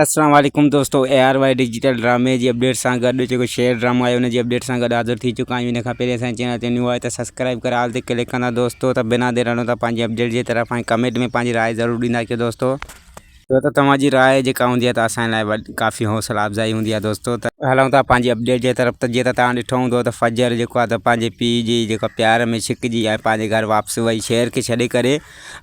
اسلام عليڪم دوستو اي آر واء ڊجيٽل ڊرامي جي اپڊيٽ سان گڏ جيڪو شير ڊرامو آهي ان جي اپڊيٽ سان گڏ حاضر ٿي چڪا آهيون ان کان پهرين اسان چينل تي نيو آهي ته سبسڪرائب ڪري آل تي ڪلڪ ڪندا دوستو ته بنا دير هلون ٿا پنهنجي اپڊيٽ جي طرف ۽ ڪمينٽ ۾ پنهنجي راء ضرور ڏيندا ڪيو دوستو ڇو ته توهان جي راء جيڪا هوندي آهي ته اسان لاء ڪافي حوصلا افزائي هوندي آهي دوستو ته هلون ٿا پنهنجي اپڊيٽ جي طرف ته جيئن ته توهان ڏٺو هوندو ته فجر جيڪو آهي ته پنهنجي پيء جي جيڪو آهي پيار ۾ ڇڪجي ۽ پنهنجي گهر واپس وئي شير کي ڇڏي ڪري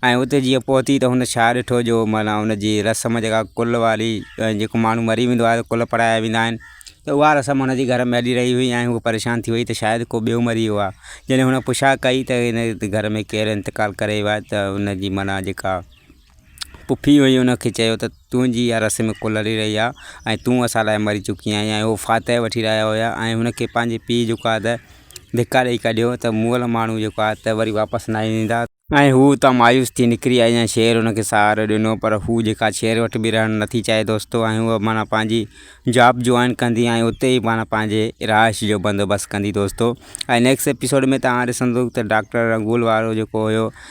۽ اتي جيئن پهتي ته هن ڇا ڏٺو جو معنيٰ ان جي رسم جيڪا ڪل واري ۽ جيڪو ماڻهو مري ويندو آهي ڪل پڙهايا ويندا آهن ته اها رسم هن جي گهر ۾ هلي رهي هئي ۽ هو پريشان ٿي وئي ته شايد ڪو ٻيو مري ويو آهي جڏهن هن پڇا ڪئي ته هن گهر ۾ ڪير انتقال ڪري ويو آهي ته ان جي معنيٰ جيڪا پڦي هئي ان کي چيو ته تنهنجي اها رسم ڪل هلي رهي آهي ۽ تون اسان لاء مري چڪي آهين ۽ هو فاتح وٺي رهيا هيا ۽ هن کي پنهنجي پيء جيڪو آهي ته ڌڪا ڏئي ڪڍيو ته مئل ماڻهو جيڪو آهي ته وري واپس نه ايندا. ۽ هو اتان مايوس ٿي نڪري آئي ۽ شير هن کي سهارو ڏنو پر هو جيڪا شير وٽ به رهڻ نه ٿي چاهي دوستو ۽ هوء معنيٰ پنهنجي جاب جوائن ڪندي ۽ اتي ئي معنيٰ پنهنجي رهائش جو بندوبست ڪندي دوستو ۽ نيڪسٽ ايپيسوڊ ۾ توهان ڏسندو ته ڊاڪٽر رنگول وارو جيڪو هيو